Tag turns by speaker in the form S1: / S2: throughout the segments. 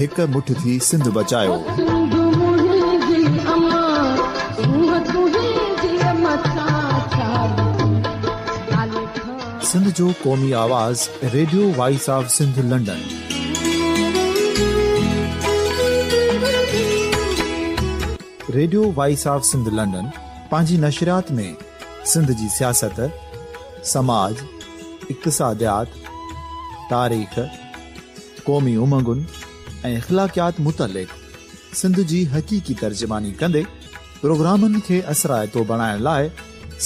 S1: هڪ مٺ ٿي سنڌ بچايو. سنڌ جو قومي آواز radio voice of Sindh London. Radio voice of Sindh London پنهنجي نشريات ۾ سنڌ جي سياست، سماج، اقتصاديات، تاريخ، قومي امنگن ۽ اخلاقيات متعلق سنڌ جي حقيقي ترجماني ڪندي پروگرامن کي اثرائتو بڻائڻ لاء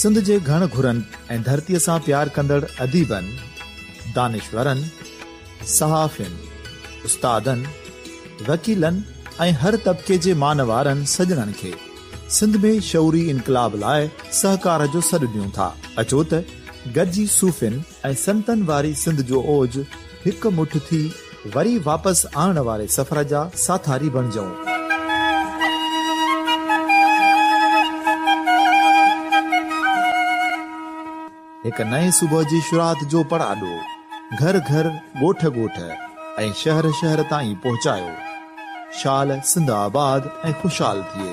S1: سنڌ جي گهڻ گهرن ۽ ڌرتيء سان پيار ڪندڙ اديبن، دانشورن، صحافين، استادن، وڪيلن ۽ هر طبقي جي مان وارن سڄڻن کي سنڌ ۾ شعوري انقلاب لاء سهڪار جو سڏ ڏيون ٿا. اچو ته گڏجي صوفين، ۽ سنتن واري سنڌ جو اوج هڪ مٺ ٿي وري واپس آڻڻ واري سفر جا ساٿاري بڻجئون. هڪ نئين صبح جي شروعات جو پڙاڏو گهر گهر، ڳوٺ ڳوٺ ۽ شهر شهر تائين پهچايو. شال سنڌ آباد ۽ خوشحال ٿئي.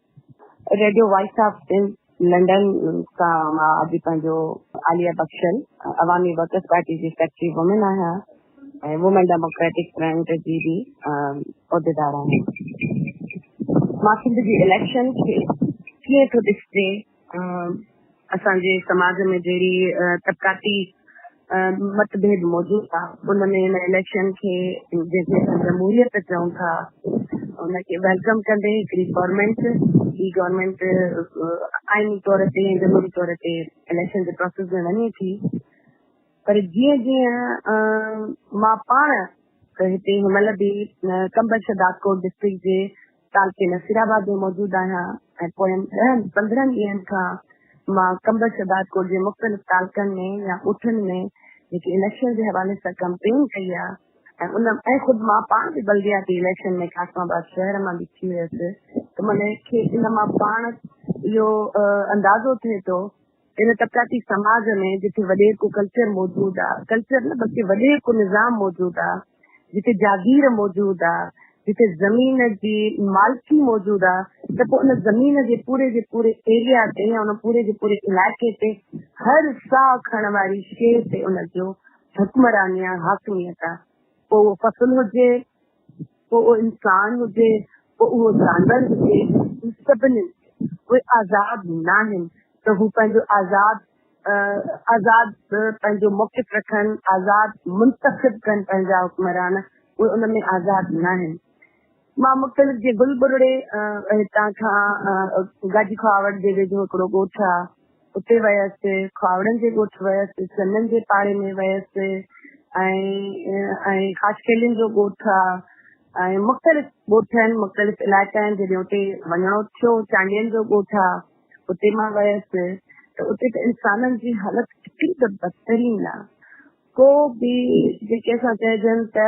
S2: ريڊيو وائس آف لنڊن کان مان اڄ پنهنجو عاليه بخشل عوامي ورڪرز پارٽي جي سيڪريٽري وومن آهيان ۽ وومن ڊيموڪريٽڪ فرنٽ جي به عهديدار آهيان مان سنڌ جي اليڪشن کي ڪيئن ٿو ڏسجي اسان جي سماج ۾ جهڙي طبقاتي مت ڀيد موجود آ ان ۾ ان اليڪشن کي جنهن کي اسان جمهوريت چئون ٿا ان کي ويلڪم ڪندي هڪڙي گورنمينٽ هي گورنمينٽ آئيني طور تي ۽ جمهوري طور تي اليڪشن جي پروسيس ۾ وڃي ٿي پر جيئن جيئن مان پاڻ هتي هن مهل به ڪمبر شهدادڪوٽ ڊسٽرڪٽ جي ڪالڪي نصيرآباد ۾ موجود آهيان ۽ پوين ڏهن پندرهن ڏينهن کان مان قمبر شهدادڪوٽ جي مختلف تعلقن ۾ يا ڳوٺن ۾ جيڪي اليڪشن جي حوالي سان ڪمپين ڪئي آهي ۽ ان ۽ خود مان پاڻ به بلدياتي اليڪشن ۾ قاسم آباد شهر مان به ٿي هيس ته منهن کي ان مان پاڻ اهو اندازو ٿئي ٿو ان طبقاتي سماج ۾ جتي وڏيرڪو ڪلچر موجود آ، ڪلچر نه بلڪه وڏيرڪو نظام موجود آ، جتي جاگير موجود آ، جتي زمين جي مالڪي موجود آ ته پوء ان زمين جي پوري جي پوري ايريا تي يا ان پوري جي پوري علائقي تي هر ساهه کڻڻ واري شيء تي ان جو حڪمراني آ، حاڪميت آ. پوء اهو فصل هجي، پوء اهو انسان هجي، پوء اهو جانور هجي، هن سڀني کي اهي آزاد ناهن ته هو پنهنجو آزاد آزاد پنهنجو موقف رکن، آزاد منتخب ڪن پنهنجا حڪمران، اهي ان ۾ آزاد ناهن. مان مختلف جيئن گل ٻرڙي هتان کان گاجي کهاوڙ جي ويجهو هڪڙو ڳوٺ آ، اتي ويس، کهاوڙن جي ڳوٺ ويس، چنن جي پاڙي ۾ ويس ۽ خاشخيلين جو ڳوٺ آ ۽ مختلف ڳوٺ آهن، مختلف علائقا آهن جڏهن اتي وڃڻو ٿيو، چانڊين جو ڳوٺ آ اتي مان ويس ته اتي ته انسانن جي حالت ايتري ته بدترين آ ڪو به جيڪي اسان چئجن ته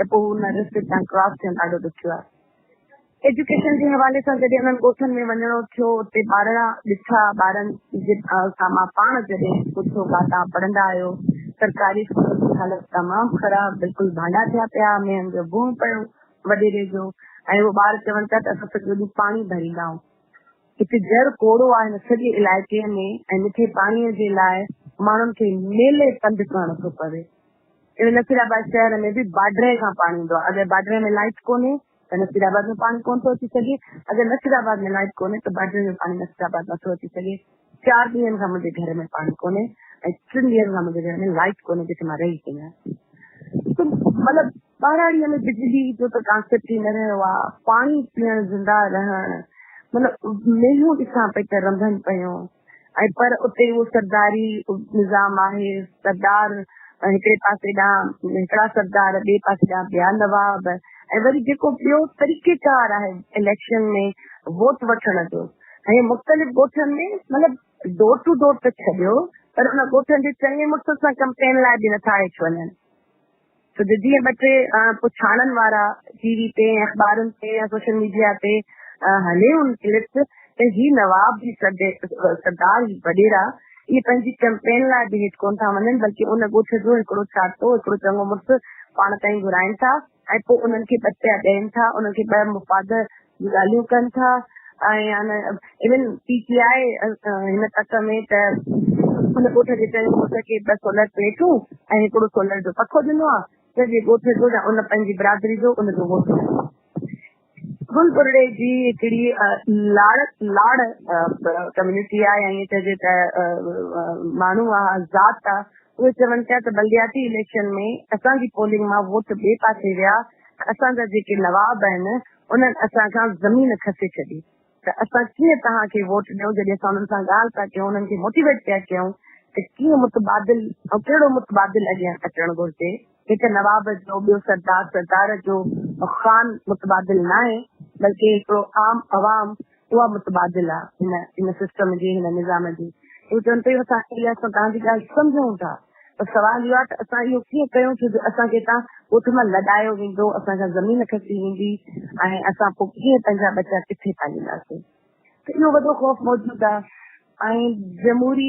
S2: ته پوء ان رستي تان ڪراس ٿيڻ ڏاڍو ڏکيو آهي. ايجوڪيشن جي حوالي سان جڏهن انهن ڳوٺن ۾ وڃڻو ٿيو، اتي ٻارڙا ڏٺا، ٻارن جي سان مان پاڻ جڏهن پڇيو ڪا توهان پڙهندا آهيو؟ سرڪاري اسڪولن جي حالت تمام خراب، بلڪل ڀانڊا ٿيا پيا، مينهن جو بونء پيو، وڏيري جو ۽ اهي ٻار چون پيا ته اسان سڄو ڏينهن پاڻي ڀريندا آهيون. هتي جر ڪوڙو آهي هن سڄي علائقي ۾ ۽ مٺي پاڻي جي لاء ماڻهن کي ميلي پنڌ ڪرڻو ٿو پوي. اهڙي نصير آباد شهر ۾ به باڊري کان پاڻي ايندو آهي، اگر باڊري ۾ لائيٽ ڪونهي ته نصير آباد ۾ پاڻي ڪونه ٿو اچي سگهي، اگر نصير آباد ۾ لائيٽ ڪونهي ته باڊري ۾ پاڻي نصير آباد نٿو اچي سگهي، چار ڏينهن کان منهنجي گهر ۾ پاڻي ڪونهي ۽ ٽن ڏينهن کان منهنجي گهر ۾ لائيٽ ڪونهي جتي مان رهي پئي آهيان ته مطلب ٻهراڙيء ۾ بجلي جو ته ڪانسيپٽ ئي نه رهيو آهي، پاڻي پيئڻ زنده رهڻ مطلب مينهون ڏسان پئي ته رنڀن پيون. ۽ پر اتي اهو سرداري نظام آهي، سردار هڪڙي پاسي ڏانهن هڪڙا سردار ٻئي پاسي ڏانهن ٻيا نواب ۽ وري جيڪو ٻيو طريقي ڪار آهي اليڪشن ۾ ووٽ وٺڻ جو ۽ مختلف ڳوٺن ۾ مطلب ڊور ٽو ڊور ته ڇڏيو پر ان ڳوٺن جي چڱي مڙس سان ڪمپين لاء به نٿا هيٺ وڃن. ته جيئن ٻه ٽي پڇاڙن وارا ٽي وي تي ۽ اخبارن تي يا سوشل ميڊيا تي هلي ان ڪلپس ته هي نواب جي سردار هي وڏيرا اهي پنهنجي ڪئمپين لاء به هيٺ ڪونه ٿا وڃن بلڪه ان ڳوٺ جو هڪڙو ڇاٽو هڪڙو چڱو مڙس پاڻ تائين گهرائين ٿا ۽ پوء انهن کي ٻه پيا ڏين ٿا انهن کي ٻه مفاد ڳالهيون ڪن ٿا ۽ ايون پي ٽي آء هن تڪ ۾ ته ان ڳوٺ جي چئين ڳوٺ کي ٻه سولر پليٽون ۽ هڪڙو سولر جو پکو ڏنو آهي جنهن ڳوٺ جو يا ان پنهنجي برادري جو ان جو ووٽ گل برڙي جي هڪڙي لاڙ لاڙ ڪميونٽي آهي ائين چئجي ته ماڻهو آهي ذات آهي اهي چون پيا ته بلدياتي اليڪشن ۾ اسان جي پولنگ مان ووٽ ٻئي پاسي ويا اسان جا جيڪي نواب آهن انهن اسان کان زمين کسي ڇڏي ته اسان ڪيئن توهان کي ووٽ ڏيون جڏهن اسان انهن سان ڳالهه پيا ڪيون انهن کي موٽيويٽ پيا ڪيون ته ڪيئن متبادل ۽ ڪهڙو متبادل اڳيان اچڻ گهرجي هڪ نواب جو ٻيو سردار سردار جو خان متبادل ناهي بلڪه هڪڙو عام عوام اها متبادل آ هن هن سسٽم جي هن نظام جي هو چون پيون اسان اي ايس سان تهان جي ڳالهه سمجهون ٿا پر سوال اهو آ ته اسان اهو ڪيئن ڪيون ٿو جو اسان کي هتان ڳوٺ مان لڏايو ويندو اسان کان زمين کسي ويندي ۽ اسان پوء ڪيئن پنهنجا ٻچا ڪٿي پالينداسين ته اهو وڏو خوف موجود آ. ۽ جمهوري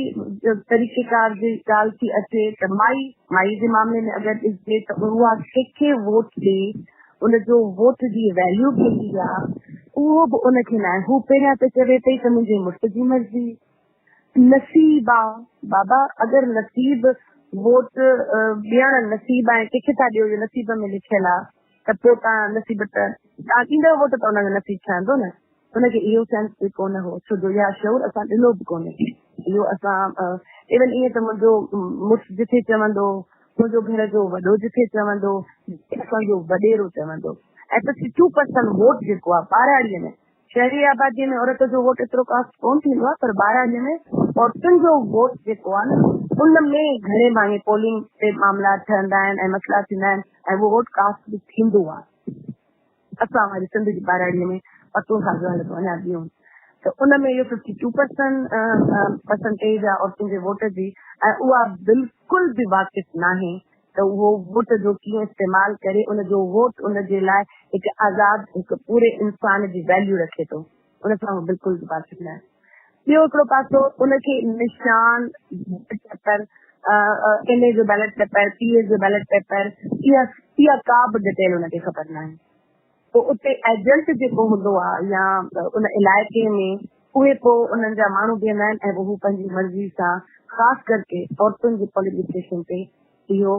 S2: طريقيڪار جي ڳالهه ٿي اچي ته مائي مائي جي معاملي ۾ اگر ڏسجي ته اها ڪنهن کي ووٽ ڏي ان جو ووٽ جي ويليو ڪيتري آ اهو به ان کي ناهي هو پهريان ته چوي پئي ته منهنجي مڙس جي مرضي نصيب آ بابا اگر نصيب ووٽ ڏيڻ نصيب آ ڪنهن کي ٿا ڏيو جو نصيب ۾ لکيل آ ته پوء تان نصيب ته تان ڏيندو ووٽ ته ان جو نصيب ٺهندو نه هن کي اهو سينس به ڪونه هو ڇو جو اها شعور اسان ڏنو به ڪونهي اهو اسان ايون ائين ته منهنجو مڙس جٿي چوندو منهنجو گهر جو وڏو جٿي چوندو اسان جو وڏيرو چوندو ۽ ففٽي ٽو پرسنٽ ووٽ جيڪو آهي ٻاراڙي ۾ شهري آبادي ۾ عورت جو ووٽ ايترو ڪاسٽ ڪون ٿيندو آهي پر ٻاراڙي ۾ عورتن جو ووٽ جيڪو آهي ان ۾ گهڻي ڀاڱي پولنگ تي معاملا ٺهندا آهن ۽ مسئلا ٿيندا آهن ۽ اهو ووٽ ڪاسٽ به ٿيندو آهي اسان واري سنڌ جي ٻهراڙيء ۾ عورتون سان جو حالتون اڃا ٻيون ته ان ۾ اهو ففٽي ٽو پرسن پرسنٽيج آهي عورتن جي ووٽ جي ۽ اها بلڪل به واقف ناهي ته اهو ووٽ جو ڪيئن استعمال ڪري ان جو ووٽ ان جي لاء هڪ آزاد هڪ پوري انسان جي ويليو رکي ٿو. ان سان هو بلڪل به باسڪ نه آهي. ٻيو هڪڙو پاسو ان کي نشان، بيلٽ پيپر، ايم اي جو بيلٽ پيپر، پي اي جو بيلٽ پيپر، اها ڪا به ڊٽيل ان کي خبر نه آهي. پوء اتي ايجنٽ جيڪو هوندو آهي يا ان علائقي ۾ اهي پوء انهن جا ماڻهو بيهندا آهن ۽ هو پنهنجي مرضي سان خاص ڪرڪي عورتن جي پولنگ اسٽيشن تي اهو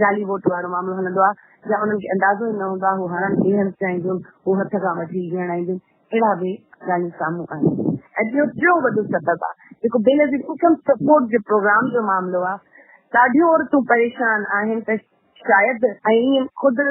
S2: جعلي ووٽ وارو معاملو هلندو آهي يا انهن کي اندازو ئي نه هوندو آهي، هو هڻڻ ڪيئن هنڌ چاهينديون، هو هٿ کان وٺي ڪيئن اڻائينديون، اهڙا به ڳالهيون سامهون آيون آهن. ۽ ٻيو ٽيون وڏو سبب آهي جيڪو بينظير انڪم سپورٽ جي پروگرام جو معاملو آهي، ڏاڍيون عورتون پريشان آهن ته شايد ۽ خود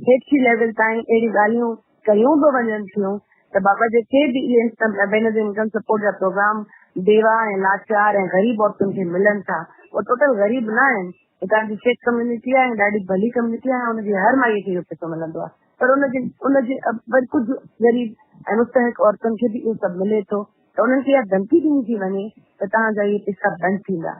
S2: هيٺئين ليول تائين اهڙيون ڳالهيون، ڪيون به وڃن ٿيون ته بابا جيڪي به اهي بينظير انڪم سپورٽ جا پروگرام بيواهه ۽ لاچار ۽ غريب عورتن کي ملن ٿا اهي ٽوٽل غريب نه آهن هتان جي سک ڪميونٽي آهي ۽ ڏاڍي ڀلي ڪميونٽي آهي ۽ ان جي هر مائي کي اهو پئسو ملندو آهي پر ان جي ان جي وري ڪجهه غريب ۽ مستحق عورتن کي به اهو سڀ ملي ٿو ته انهن کي اها ڌمڪي ڏني ٿي وڃي ته توهان جا اهي پئسا بند ٿيندا.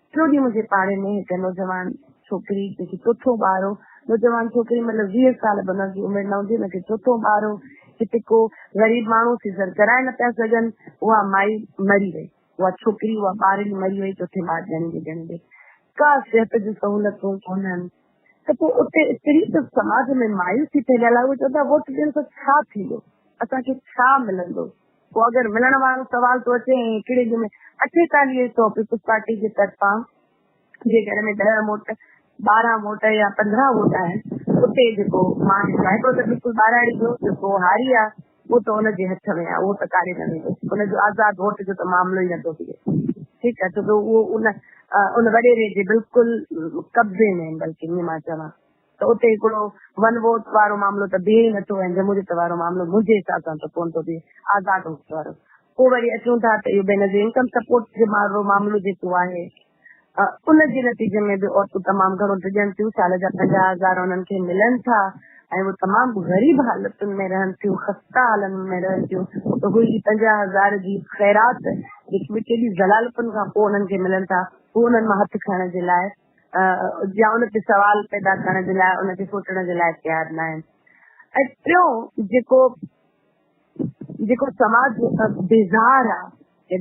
S2: ٽيون ڏينهن منهنجي پاڙي ۾ هڪ نوجوان ڇوڪري جيڪي چوٿون ٻار هو، نوجوان ڇوڪري مطلب ويهه سال به ان جي عمر نه هوندي، ان کي چوٿون ٻار هو، هتي ڪو غريب ماڻهو سيزر ڪرائي نه پيا سگهن، اها مائي مري وئي، اها ڇوڪري اها ٻارڙي مري وئي، چوٿين ٻار ڄڻيندي ڄڻيندي ڪا صحت جون سهولتون ڪونهن ته پوء اتي ايتري ته سماج ۾ مايوسي ڦهليل آهي، اهي چون ٿا ووٽ ڏيڻ سان ڇا ٿيندو، اسان کي ڇا ملندو، پوء اگر ملڻ وارو سوال ٿو اچي ۽ هڪڙي ڏينهن ۾ اٺيتاليهه سؤ پيپلز پارٽي جي طرفان جي گهر ۾ ڏهه ووٽ، ٻارهن ووٽ يا پندرهن ووٽ آهن اتي جيڪو مان ڏسان هڪڙو ته بلڪل ٻاراڙي جو جيڪو هاري آ اهو ته ان جي هٿ ۾ آ اهو ته ڪاڏي نه ويندو ان جو آزاد ووٽ جو ته معاملو ئي نٿو ٿئي ٺيڪ آ ڇو ڪي اهو ان ان وڏيري جي بلڪل قبضي ۾ آهن بلڪل ائين مان چوان. ته اتي هڪڙو ون ووٽ وارو معاملو ته بيهي ئي نٿو ۽ جمهوريت وارو معاملو منهنجي حساب سان ته ڪونه ٿو بيهي، آزاد ووٽ وارو. پوء وري اچون ٿا ته اهو بينظير انڪم سپورٽ جو مارڙو معاملو جيڪو آهي ان جي نتيجي ۾ به عورتون تمام گهڻو ڊڄن ٿيون، سال جا پنجاهه هزار انهن کي ملن ٿا ۽ هو تمام غريب حالتن ۾ رهن ٿيون، خسته حالن ۾ رهن ٿيون ته اهي ئي پنجاهه هزار جي خيرات جيڪي به ڪيڏي زلالتن کان پوء انهن کي ملن ٿا، هو انهن مان هٿ کڻڻ جي لاء جا ان تي سوال پيدا ڪرڻ جي لاء ان کي سوچڻ جي لاء تيار نه آهن ۽ ٽيون جيڪو جيڪو سماج بيزار آهي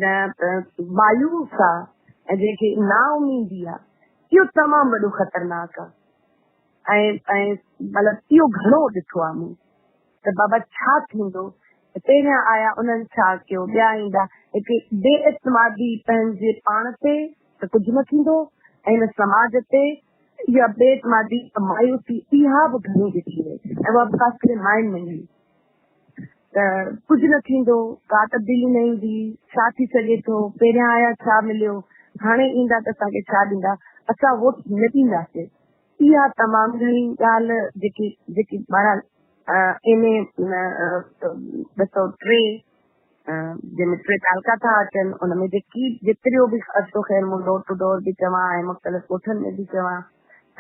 S2: مايوس آهي ۽ جنهن کي نا اميدي آهي اهو تمام وڏو خطرناڪ آهي مطلب اهو گهڻو ڏٺو آهي مون ته بابا ڇا ٿيندو پهريان آيا انهن ڇا ڪيو ٻيا ايندا هڪ بي اعتمادي پنهنجي پاڻ تي ته ڪجهه نه ٿيندو ۽ هن سماج تي اها بي اعتمادي ۽ مايوسي اها به گهڻي ڏٺي وئي ۽ اها به خاص ڪري ماين ۾ ملي ته ڪجهه نه ٿيندو، ڪا تبديلي نه ايندي، ڇا ٿي سگهي ٿو، پهريان آيا ڇا مليو، هاڻي ايندا ته اسان کي ڇا ڏيندا، اسان ووٽ نه ڏينداسين. اها تمام گهڻي ڳالهه جيڪي جيڪي بهرحال ايم اي ٻه سؤ ٽي، جنهن ۾ ٽي تعلقا ٿا اچن، ان ۾ جيڪي جيتريو به خرچو خير مون ڊور ٽو ڊور به چوان ۽ مختلف ڳوٺن ۾ به چوان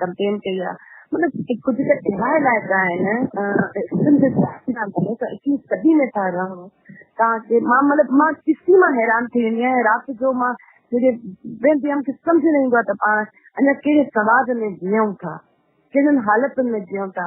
S2: ڪمپين ڪئي آهي. مطلب ڪجهه ته اهڙا علائقا آهن سنڌ جا اڪيس صدي ۾ ٿا رهون تان کي مان مطلب مان ڏسي مان حيران ٿي ويندي آهيان رات جو مان جڏهن ويندي آهيان مونکي سمجھ نه ايندو آهي ته پاڻ اڃا ڪهڙي سماج ۾ جيئون ٿا ڪهڙين حالتن ۾ جيئون ٿا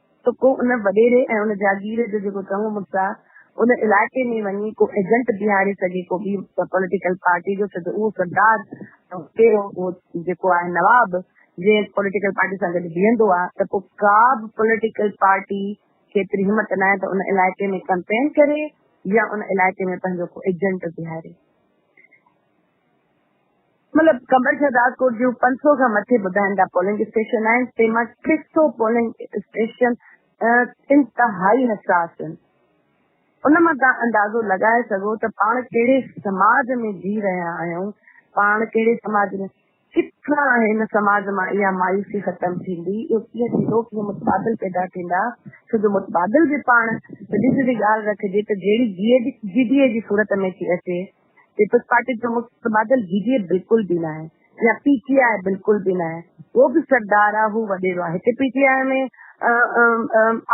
S2: ته ڪو ان وڏيري ۽ ان جاگير جو جيڪو چڱو مڙس آ، ان علائقي ۾ وڃي ڪو ايجنٽ بيهاري سگهي، ڪو ٻي پوليٽيڪل پارٽي جو ڇو ته اهو سردار ۽ وڏيرو اهو جيڪو آهي نواب جنهن پوليٽيڪل پارٽي سان گڏ بيهندو آ ته پوء ڪا به پوليٽيڪل پارٽي کي ايتري همت ناهي ته ان علائقي ۾ ڪئمپين ڪري يا ان علائقي ۾ پنهنجو ڪو ايجنٽ بيهاري. مطلب قمبر شهداد ڪوٽ جون پنج سؤ کان مٿي ٻڌائن ٿا پولنگ اسٽيشن آهن تنهن مان ٽي سؤ پولنگ اسٽيشن انتهائي حساس آهن ان مان تان اندازو لڳائي سگهو ته پاڻ ڪهڙي سماج ۾ جي رهيا آهيون پاڻ ڪهڙي سماج ۾ ڪٿان هن سماج مان اها مايوسي ختم ٿيندي اهو ڪيئن ٿيندو ڪيئن متبادل پيدا ٿيندا ڇو جو متبادل به پاڻ سڌي سڌي ڳالهه رکجي ته جهڙي جي ڊي اي جي صورت ۾ ٿي اچي پيپلز پارٽي جو متبادل جي ڊي اي بلڪل به ناهي يا پي ٽي آء بلڪل به ناهي هو به سردار آ هو وڏيرو آ هتي پي ٽي آء ۾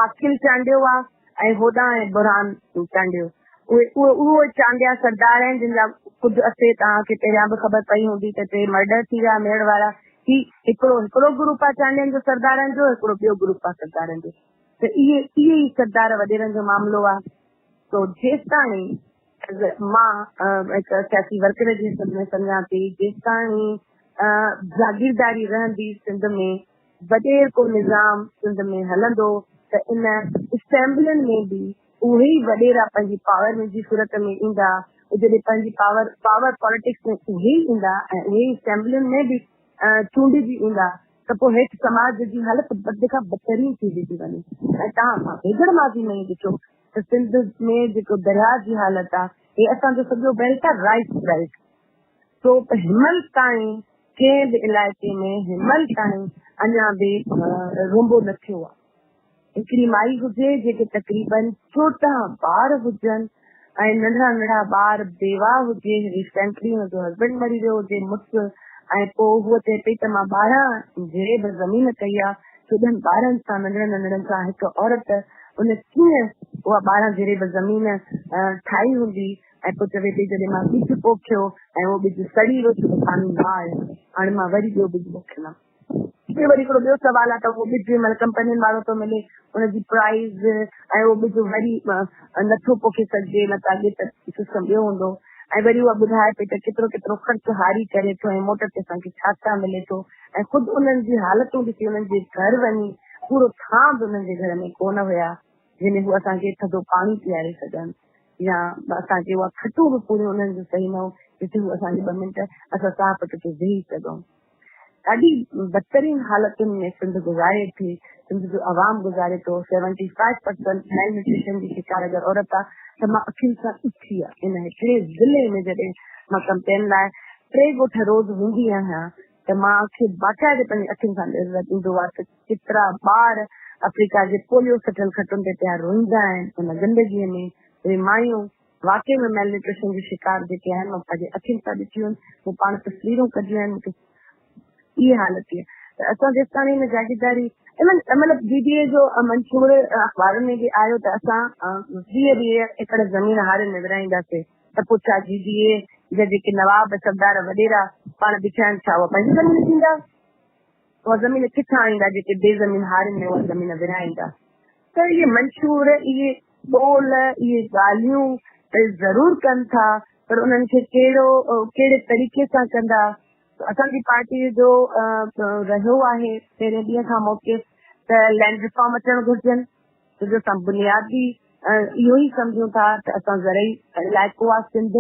S2: عاقل چانڊيو آ ۽ هوڏانهن آهي برهان چانڊيو اهي اهو چانڊيا سردار آهن جن جا ڪجهه اسي توهان کي پهريان به خبر پئي هوندي ته ٽي مرڊر ٿي ويا ميڙ وارا هي هڪڙو هڪڙو گروپ آ چانڊين جو سردارن جو هڪڙو ٻيو گروپ آ سردارن جو ته اهي اهي ئي سردار وڏيرن جو معاملو آ تو جيستاڻي مان هڪ سياسي ورڪر جي حيثيت ۾ سمجهان ٿي جيستائين جاگيرداري رهندي سنڌ ۾ وڏير ڪو نظام سنڌ ۾ هلندو ته ان اسيمبلين ۾ به اهي ئي وڏيرا پنهنجي پاور جي صورت ۾ ايندا جڏهن پنهنجي پاور پاور پاليٽڪس ۾ اهي ئي ايندا ۽ اهي ئي اسيمبلين ۾ به چونڊجي ايندا ته پوء هيٺ سماج جي حالت بد کان بدترين ٿيندي ٿي وڃي ۽ تهان سان ويجهڙ ماضي ۾ ئي ڏٺو ته سنڌ ۾ جيڪو درياء جي حالت آ هي اسان جو سڄو بيلٽ آ رائيٽ بيلٽ سو هينمل تائين ڪنهن به علائقي ۾ هينمل تائين اڃا به رونبو نه ٿيو آ هڪڙي مائي هجي جيڪي تقريبن چوڏهن ٻار هجن ۽ ننڍڙا ننڍڙا ٻار بيواهه هجي ريسينٽلي هن جو هسبينڊ مري ويو هجي مڙس ۽ پوء هوء چئي پئي ته مان ٻارهن جيب زمين ڪئي آ ڪيڏن ٻارن سان ننڍڙن ننڍڙن سان هڪ عورت ان ڪيئن اها ٻارهن جريب زمين ٺاهي هوندي ۽ پوء چوي پئي جڏهن مان ٻج پوکيو ۽ اهو ٻج سڙي ويو ڇو ته پاڻي نه آيو هاڻي مان وري ٻيو ٻج پوکيندم. هتي وري هڪڙو ٻيو سوال آهي ته اهو ٻج جنهن مهل ڪمپنين وارو ٿو ملي ان جي پرائز ۽ اهو ٻج وري نٿو پوکي سگهجي نه ته اڳي ته سسٽم ٻيو هوندو ۽ وري اها ٻڌائي پئي ته ڪيترو ڪيترو خرچ هاري ڪري ٿو ۽ موٽ تي اسان کي ڇا ڇا ملي ٿو. ۽ خود انهن جي حالتون ڏسي انهن جي گهر وڃي پورو ٿان به انهن جي گهر ۾ ڪونه هيا جنهن ۾ هو اسان کي ٿڌو پاڻي پياري سگهن يا اسان کي اها کٽون به پوريون انهن جون صحيح نه هو جتي هو اسان کي ٻه منٽ اسان ساهه پٽ تي ويهي سگهون ڏاڍي بدترين حالتن ۾ سنڌ گذاري ٿي سنڌ جو عوام گذاري ٿو seventy five percent malnutrition جي شڪار اگر عورت آ ته مان اکين سان ڏٺي آ ان هڪڙي ضلعي ۾ جڏهن مان ڪمپين لاء ٽي ڳوٺ روز ويندي آهيان ته مان کي باقاعدي پنهنجي اکين سان ڏيرلڳ ايندو آهي ته ڪيترا ٻار آفريڪا جي پوليو سٽيل کٽن تي پيا روئيندا آهن ان گندگي ۾ اهي مايون واقعي ۾ ميل نيوٽريشن جي شڪار جيڪي آهن مان پنهنجي اکين سان ڏٺيون آهن مون پاڻ تصويرون ڪڍيون آهن مون کي اهي حالت ٿي آهي ته اسان جيستاڻي هن جاگيرداري مطلب ڊي ڊي اي جو منشور اخبارن ۾ به آيو ته اسان ويهه ويهه ايڪڙ زمين هارين ۾ ورهائينداسين ته پوء ڇا جي ڊي اي جا جيڪي نواب، سردار، وڏيرا پاڻ بيٺا آهن ڇا اها پنهنجي زمين ڏيندا؟ اها زمين ڪٿان آڻيندا جيڪي بي زمين هارين ۾ اها زمين ورهائيندا؟ ته اهي منشور، اهي قول، اهي ڳالهيون ته ضرور ڪن ٿا پر انهن کي ڪهڙو ڪهڙي طريقي سان ڪندا؟ اسان جي پارٽي جو رهيو آهي پهرين ڏينهن کان موقف ته لينڊ ريفارم اچڻ گهرجن، ڇو جو اسان بنياد به اهو ئي سمجهون ٿا ته اسان زرعي علائقو آهي سنڌ،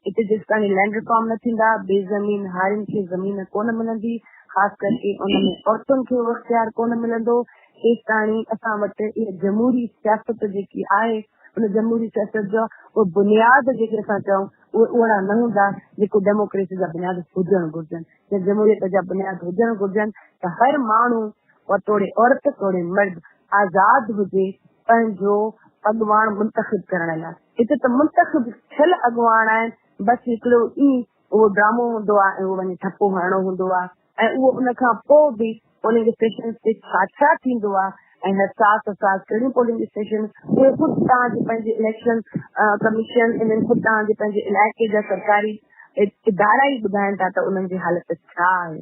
S2: اتي جيستائين لينڊ ريفارم نه ٿيندا، بي زمين هارين کي زمين ڪونه ملندي، خاص ڪرڪي ان ۾ عورتن کي اهو اختيار ڪونه ملندو، تيستائين اسان وٽ اها جمهوري سياست جيڪي آهي، ان جمهوري سياست جا اهي بنياد جيڪي اسان چئون، اهي اوهڙا نه هوندا، جيڪو ڊيموڪريسي جا بنياد هجڻ گهرجن يا جمهوريت جا بنياد هجڻ گهرجن ته هر ماڻهو و توڙي عورت توڙي مرد آزاد هجي پنهنجو اڳواڻ منتخب ڪرڻ لاء. هتي ته منتخب ٿيل اڳواڻ آهن بس هڪڙو ئي اهو ڊرامو هوندو آهي ۽ اهو وڃي ٺپو هڻڻو هوندو آهي ۽ اهو ان کان پوء به پولنگ اسٽيشنز تي ڇا ڇا ٿيندو آهي ۽ حساس حساس ڪهڙيون پولنگ اسٽيشنز اهي خود تان جي پنهنجي اليڪشن ڪميشن انهن خود تان جي پنهنجي علائقي جا سرڪاري ادارا ئي ٻڌائن ٿا ته انهن جي حالت ڇا آهي.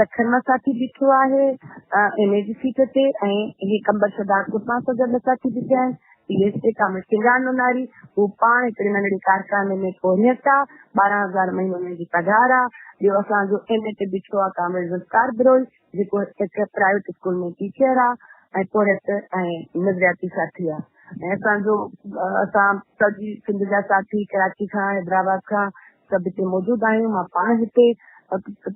S2: سکر مان ساٿي بيٺو آهي ايم اي جي سيٽ تي ۽ هي قمبر شهدادپور مان اسان جا ٻه ساٿي بيٺا آهن P S A Kamil Singar Nonari هو پاڻ هڪڙي ننڍڙي ڪارخاني ۾ پورهيت آ ٻارهن هزار مهينو هن جي پگهار آ ٻيو اسان جو ايم اي تي بيٺو آ ڪامل ذوالفقار بروهي جيڪو هڪ پرائيويٽ اسڪول ۾ ٽيچر آ ۽ پورهيت ۽ نظرياتي ساٿي آ ۽ اسان جو اسان سڄي سنڌ جا ساٿي ڪراچي کان حيدرآباد کان سڀ هتي موجود آهيون مان پاڻ هتي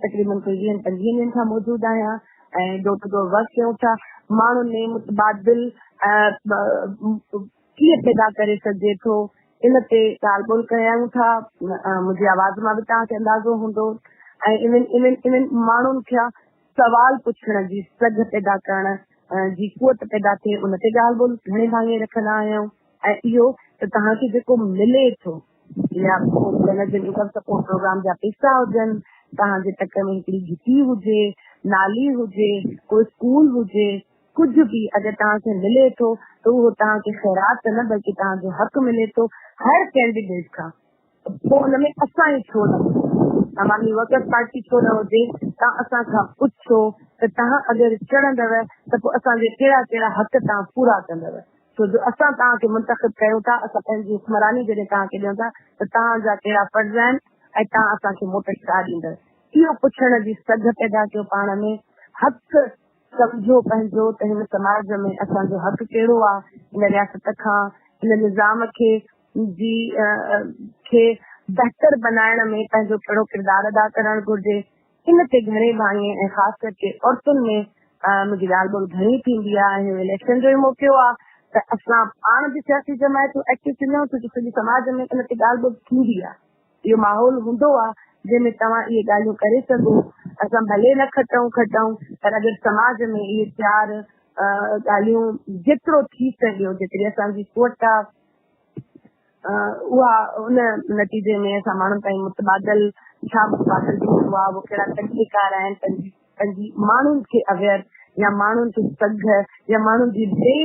S2: تقريبن ڪوئي ويهن پنجويهن ڏينهن کان موجود آهيان ۽ ڊور ٽو ڊور ورڪ ڪيون ٿا ماڻهن ۾ متبادل ڪيئن پيدا ڪري سگهجي ٿو ان تي ڳالهه ٻولهه ڪيون ٿا منهنجي آواز مان به توهان کي اندازو هوندو ۽ انهن انهن ماڻهن کي سوال پڇڻ جي سگهه پيدا ڪرڻ جي قوت پيدا ٿئي ان تي ڳالهه ٻولهه گهڻي ڀاڱي رکندا آهيون ۽ اهو ته توهان کي جيڪو ملي ٿو يا پوء جنت جي انڪم سپورٽ پروگرام جا پيسا هجن، توهان جي تڪ ۾ هڪڙي گهٽي هجي، نالي هجي، ڪو اسڪول هجي، ڪجهه به اگر توهان کي ملي ٿو ته اهو توهان کي خيرات ته نه بلڪه توهان جو حق ملي ٿو هر ڪينڊيڊيٽ کان ته پوء ان ۾ اسان ئي ڇو نه هجون، عوامي ورڪرز پارٽي ڇو نه هجي، توهان اسان کان پڇو ته توهان اگر چڙهندؤ ته پوء اسان جي ڪهڙا ڪهڙا حق توهان پورا ڪندؤ. ڇو جو اسان توهان کي منتخب ڪيون ٿا، اسان پنهنجي حڪمراني جڏهن توهان کي ڏيون ٿا ته توهان جا ڪهڙا فرض آهن ۽ توهان اسان کي موٽ ڇا ڏيندڙ؟ اهو پڇڻ جي سگهه پيدا ڪيو پاڻ ۾، حق سمجهو پنهنجو ته هن سماج ۾ اسان جو حق ڪهڙو آ، هن رياست کان، هن نظام کي جي کي بهتر بنائڻ ۾ پنهنجو ڪهڙو ڪردار ادا ڪرڻ گهرجي، ان تي گهڻي ڀاڱي ۽ خاص ڪرڪي عورتن ۾ منهنجي ڳالهه ٻولهه گهڻي ٿيندي آهي ۽ اهو اليڪشن جو ئي موقعو آهي ته اسان پاڻ به سياسي جماعتون ايڪٽو ٿينديون ڇو جو سڄي سماج ۾ ان تي ڳالهه ٻولهه ٿيندي آهي اهو ماحول هوندو آهي جنهن ۾ توهان اهي ڳالهيون ڪري سگهو اسان ڀلي نه کٽون کٽون پر اگر سماج ۾ اهي چار ڳالهيون جيترو ٿي سگهيو جيتري اسان جي قوت آهي اها ان نتيجي ۾ اسان ماڻهن تائين متبادل ڇا متبادل ٿي سگهبو آهي، اهو ڪهڙا طريقيڪار آهن، پنهنجي ماڻهن کي اويئر يا ماڻهن کي سگهه يا ماڻهن جي بي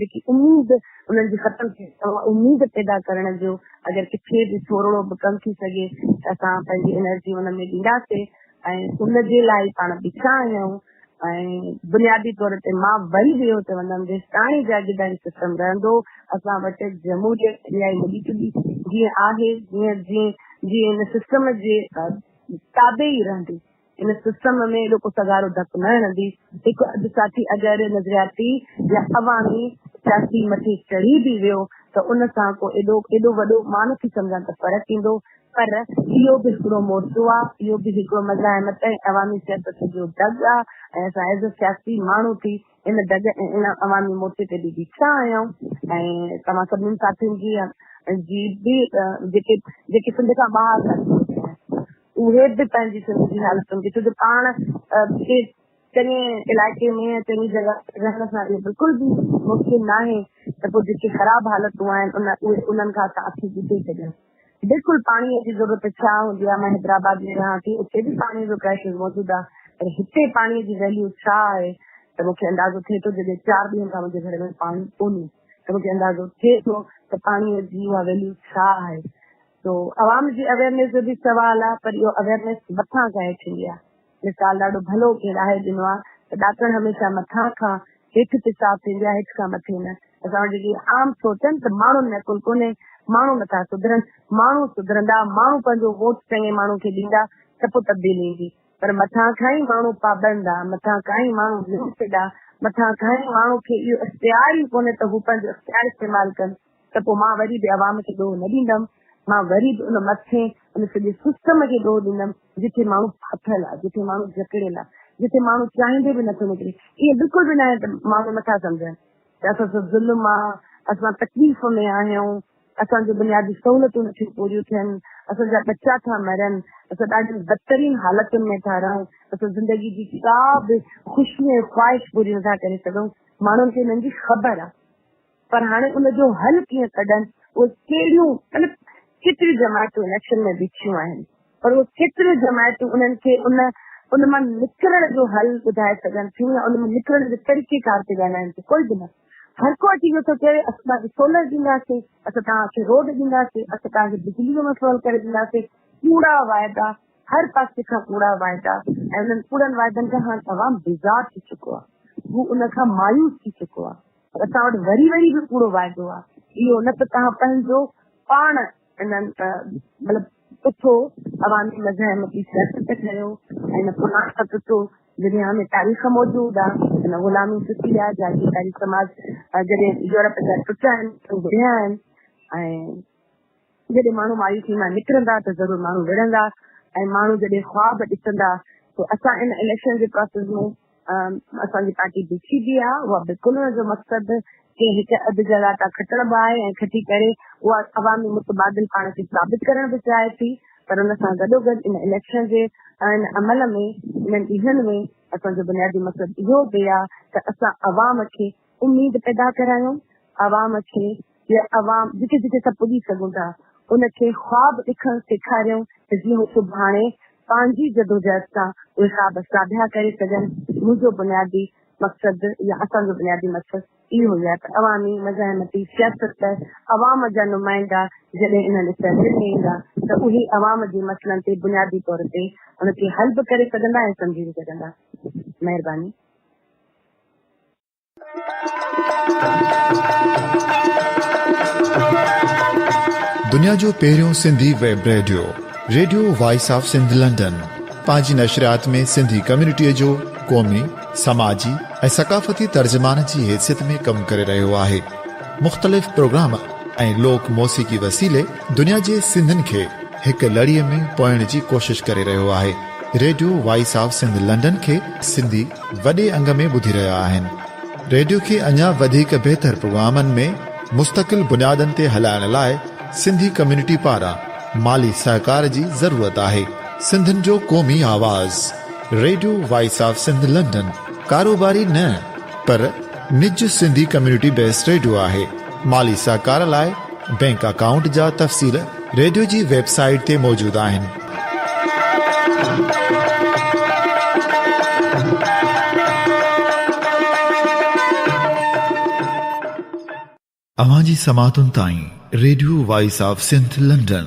S2: جيڪي اميد انهن جي ختم ٿي اميد پيدا ڪرڻ جو اگر ڪٿي به ٿورڙو به ڪم ٿي سگهي ته اسان پنهنجي انرجي ان ۾ ڏينداسين ۽ ان جي لاء پاڻ بيٺا آهيون ۽ بنيادي طور تي مان وري به اهو چوندم جيستاڻي جاگيرداري سسٽم رهندو اسان وٽ جمهوريت اهائي هلي چوندي جيئن آهي جيئن جيئن جي ان سسٽم جي تابع ئي رهندي ان سسٽم ۾ اهڙو ڪو سگهارو ڌڪ نه هڻندي هڪ اڌ ساٿي اگر نظرياتي يا عوامي سياسي مٿي چڙهي به ويو ته ان سان ڪو ايڏو ايڏو وڏو مان نٿي سمجهان ته فرق ايندو پر اهو به هڪڙو مورچو آ، اهو به هڪڙو مزاحمت ۽ عوامي سياست جو دڳ آ ۽ اسان ايز اي سياسي ماڻهو ٿي ان دڳ ۽ ان عوامي مورچي تي به بيٺا آهيون ۽ توهان سڀني ساٿين جي جي به جيڪي جيڪي سنڌ کان ٻاهر ٿا ٿي اچن اهي به پنهنجي سنڌ جي حالتن کي ڇو جو پاڻ کي چڱي علائقي ۾ يا چڱي جڳهه رهڻ سان اهو بلڪل به ممڪن ناهي ته پوء جيڪي خراب حالتون آهن ان انهن کان اسان اکيون ٻڌي ڇڏيون. بلڪل پاڻي جي ضرورت ڇا هوندي آهي مان حيدرآباد ۾ رهان ٿي اتي به پاڻي جو ڪرائسز موجود آهي پر هتي پاڻي جي ويليو ڇا آهي ته مونکي اندازو ٿئي ٿو جڏهن چار ڏينهن کان منهنجي گهر ۾ پاڻي ڪونهي ته مونکي اندازو ٿئي ٿو ته پاڻي جي اها ويليو ڇا آهي سو عوام جي اويئرنيس جو به سوال آهي پر اهو اويئرنيس مٿان ظاهر ٿيندي آهي. مثال ڏاڍو ڀلو ڪنهن ڏاهي ڏنو آهي ته ڏاڪڻ هميشه مٿان کان هيٺ پيشاب ٿيندي آهي هيٺ کان مٿي نه. اسان وٽ جيڪي عام سوچ آهي نه ته ماڻهن ۾ عقل ڪونهي، ماڻهو نٿا سڌرن، ماڻهو سڌرندا، ماڻهو پنهنجو ووٽ چڱي ماڻهو کي ڏيندا ته پوء تبديلي ايندي پر مٿان کان ئي ماڻهو پابند آهي، مٿان کان ئي ماڻهو لمٽيڊ آهي، مٿان کان ئي ماڻهو کي اهو اختيار ئي ڪونهي ته هو پنهنجو اختيار استعمال ڪن. ته پوء مان وري به عوام کي ڏوهه نه ڏيندم، مان وري به ان مٿين ان سڄي سسٽم کي ڏوهه ڏيندم جتي ماڻهو ڦاٿل آهي، جتي ماڻهو جڪڙيل آهي، جتي ماڻهو چاهيندي به نٿو نڪري، ائين بلڪل به ناهي ته ماڻهو نٿا سمجهن ته اسان سان ظلم آ، اسان تڪليف ۾ آهيون، اسان جون بنيادي سهولتون نٿيون پوريون ٿين، اسان جا ٻچا ٿا مرن، اسان ڏاڍين بدترين حالتن ۾ ٿا رهون، اسان زندگي جي ڪا به خوشي ۽ خواهش پوري نٿا ڪري سگهون، ماڻهن کي انهن جي خبر آ. پر هاڻي ان جو حل ڪيئن ڪڍن، اهي ڪهڙيون مطلب ڪيتريون جماعتون اليڪشن ۾ بيٺيون آهن پر اهي ڪيتريون جماعتون انهن کي ان ان مان نڪرڻ جو حل ٻڌائي سگهن ٿيون يا ان مان نڪرڻ جو طريقيڪار تي ڳالهائن ٿيون، ڪوئي به نه. هر ڪو اچي اهو ٿو چوي اسان توهان کي سولر ڏينداسين، اسان توهان کي روڊ ڏينداسين، اسان توهان کي بجلي جو مسئلو حل ڪري ڏينداسين، ڪوڙا وعدا، هر پاسي کان ڪوڙا وعدا ۽ انهن ڪوڙن وعدن کان هاڻ عوام بيزار ٿي چڪو آهي، هو ان کان مايوس ٿي چڪو آهي. اسان وٽ وري وري به ڪوڙو واعدو آ اهو نه ته توهان پنهنجو پاڻ انهن مطلب اٿو عوامي مزاحم جي سياست ٺهيو ۽ نه پناهه ته اٿو دنيا ۾ تاريخ موجود آ ان غلامي ٽٽي آ جاگيرداري سماج جڏهن يورپ جا ٽٽا آهن ته گهڙيا آهن ۽ جڏهن ماڻهو مايوسي مان نڪرندا ته ضرور ماڻهو وڙهندا ۽ ماڻهو جڏهن خواب ڏسندا ته اسان ان اليڪشن جي پراسيس ۾ اسان جي پارٽي بيٺي به آهي اها بلڪل ان جو مقصد ڪنهن هڪ اڌ جي لاء ڪا کٽڻ به آهي ۽ کٽي ڪري اها عوامي متبادل پاڻ کي ثابت ڪرڻ به چاهي ٿي پر ان سان گڏوگڏ ان اليڪشن جي ان عمل ۾ انهن ڏينهن ۾ اسان جو بنيادي مقصد اهو به آهي ته اسان عوام کي اميد پيدا ڪرايون عوام کي يا عوام جتي جتي اسان پڄي سگهون ٿا ان کي خواب ڏکڻ سيکاريون ته جيئن هو سڀاڻي پنهنجي جدوجهد سان اهي خواب ساڀيا ڪري سگهن منهنجو بنيادي مقصد يا اسان جو بنيادي مقصد اهو ئي آهي ته عوامي مزاحمتي سياست ته عوام جا نمائندا جڏهن انهن اسيمبلين ۾ ايندا ته اهي عوام جي مسئلن تي بنيادي طور تي ان کي حل به ڪري سگهندا ۽ سمجهي به سگهندا مهرباني
S1: دنيا جو پهريون Sindhi web radio radio voice of Sindh London پنهنجي نشريات ۾ سنڌي ڪميونٽي جو قومي سماجي ۽ ثقافتي ترجمان جي حيثيت ۾ ڪم ڪري رهيو آهي مختلف پروگرام ۽ لوڪ موسيقي وسيلي دنيا جي سنڌين کي هڪ لڙي ۾ پوئڻ جي ڪوشش ڪري رهيو آهي radio voice of Sindh London کي سنڌي وڏي انگ ۾ ٻڌي رهيا آهن ريڊيو کي اڃا وڌيڪ بهتر پروگرامن ۾ مستقل بنيادن تي هلائڻ لاء سنڌي ڪميونٽي پاران مالي سهڪار جي ضرورت آهي سنڌين جو قومي آواز radio voice of Sindh London ڪاروباري نه پر نج سنڌي ڪميونٽي بيس ريڊيو آهي. مالي سهڪار لاء بئنڪ اڪائونٽ جا تفصيل ريڊيو جي ويب سائيٽ تي موجود آهن. اوهان جي سماعتن تائين radio voice of Sindh London.